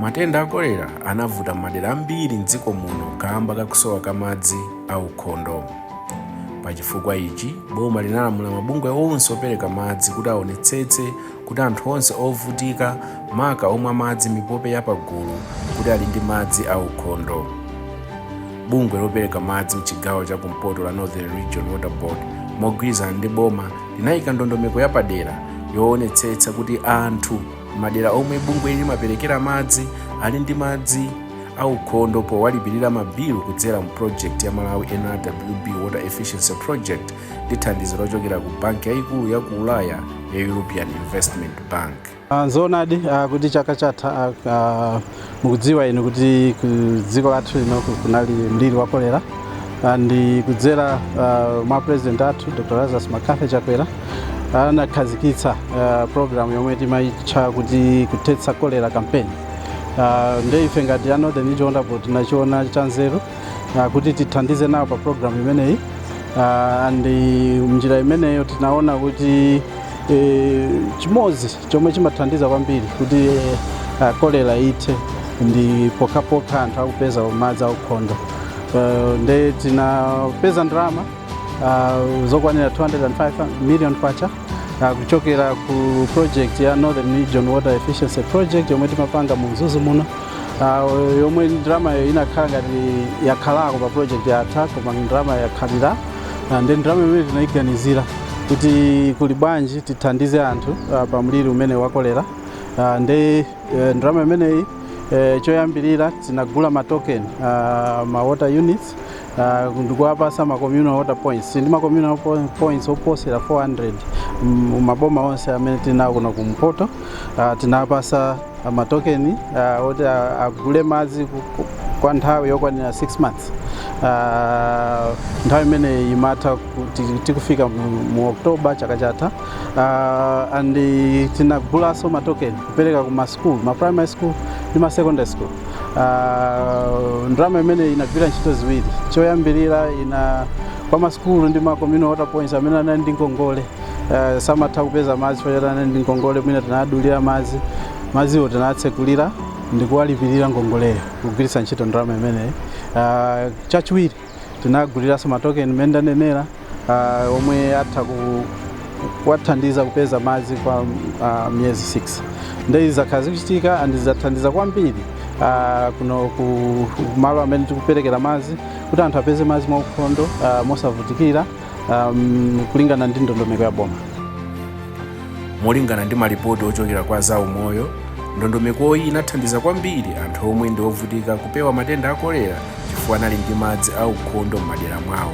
Matenda a kolera anavuta m'madera ambiri m'dziko muno kaamba ka kusowa ka madzi aukhondo. Pa chifukwa ichi, boma linalamula mabungwe onse opereka madzi kuti aonetsetse kuti anthu onse ovutika, maka omwa madzi mipope ya pagulu, kuti ali ndi madzi aukhondo. Bungwe lopereka madzi m'chigawo cha kumpoto la Northern Region Water Board mogwirizana ndi boma linaika ndondomeko yapadera yoonetsetsa kuti anthu. mmadera omwe bungweli limaperekera madzi ali ndi madzi aukhondo powalipirira mabilu kudzera mu project ya malawi nrwb water efficiency project ndi thandizo lochokera ku banki yayikulu ya ku ulaya ya european investment bank Ah, Zoonadi ah, kuti chaka chatha ah, ah, mukudziwa inu kuti ku dziko lathu lino ku- kunali mliri wa kolera Ah, ndi kudzera ah, mwa president athu dr lazarus McCarthy chakwera anakhazikitsa ah, program yomwe timaitcha kuti kuthetsa kolera campaign Ah, nde ife ngati a northern region water board tinachiona chanzeru ah, kuti tithandize nawo pa program imeneyi Ah, and eh, mnjira imeneyo tinaona kuti eh, chimodzi Chomwe chimathandiza kwambiri kuti uh, kolera ithe ndi pokhapokha anthu akupeza madzi aukhondo. Uh, nde tinapeza ndalama uh, zokwanira 205 million kwacha uh, kuchokera ku project ya Northern Region Water Efficiency Project yomwe timapanga mu Mzuzu muno uh, yomwe ndalamayo inakhala ngati yakhalako pa project yatha koma ndalama yakhalira Ah, nde ndalama imeneyi tinayiganizira kuti kuli bwanji tithandize anthu ah, pa mliri umenewu wa kolera Ah, nde eh, ndalama imeneyi eh, choyambirira tinagula ma token ah, ma water units ah, ndikuwapasa ma communal water points ndi ma communal po- points oposera 400 mu maboma onse amene tili nawo kuno kumpoto ah, tinawapasa ah, matokeni ah, oti ah, agule madzi ku- ku- kwa nthawi yokwanira 6 months Ah, nthawi imeneyi imatha tikufika mu mu oktoba chaka chatha Ah, and tinagulanso matokeni kupereka ku masukulu ma primary school ndi ma secondary school Ah, ndalama imeneyi inagwira ntchito ziwiri choyambirira kwa masukulu ndi ma communal water points amene anali ndi ngongole eh, samatha kupeza madzi chifukwa choti ali ndi ngongole mwina tinawadulira madzi madziwo tinawatsekulira ndikuwalipirira ngongoleyo kugwiritsa ntchito ndalama imeneyi ah, chachiwiri tinawaguliranso matokeni mmene ndanenera ah, omwe atha ku kuwathandiza kupeza madzi kwa uh, miyezi 6 nde izi zakhala zikuchitika and zathandiza kwambiri uh, kuno ku malo amene tikuperekera madzi kuti anthu apeze madzi mwaukhondo uh, mosavutikira kulingana ndi ndondomeko ya boma molingana ndi malipoti ochokera kwa zaumoyo ndondomekoyi inathandiza kwambiri anthu omwe ndi ovutika kupewa matenda a kolera chifukwa anali ndi madzi aukhondo m'madera mwawo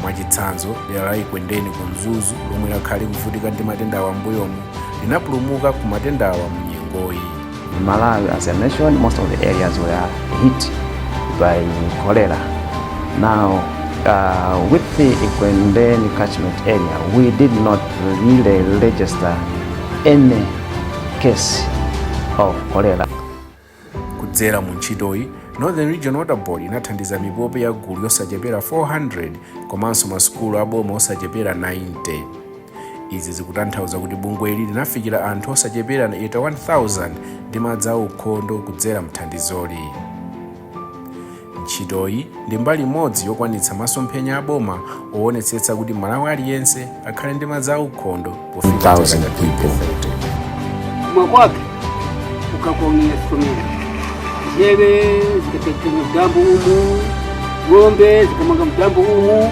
mwachitsanzo dera la ekwendeni ku mzuzu lomwe lakhala likuvutika ndi matendawa m'mbuyomu linapulumuka ku matendawa mu nyengoyi In Malawi, as a nation, most of the areas were hit by cholera. Now, with Ekwendeni catchment area, we did not really register any case of cholera. kudzera mu ntchitoyi northern region water board inathandiza mipope ya gulu yosachepera 400 komanso masukulu aboma osachepera 90 izi zikutanthauza kuti bungweli linafikira anthu osachepera 81,000 ndi madzi aukhondo kudzera mthandizoli ntchitoyi ndi mbali imodzi yokwanitsa masomphenya aboma owonetsetsa kuti mmalawi aliyense akhale ndi madzi aukhondo pofika chaka cha 2030 mwa kwake ukakomia somera zeve zikapetera mtambo umu ng'ombe zikamanga mtambo umu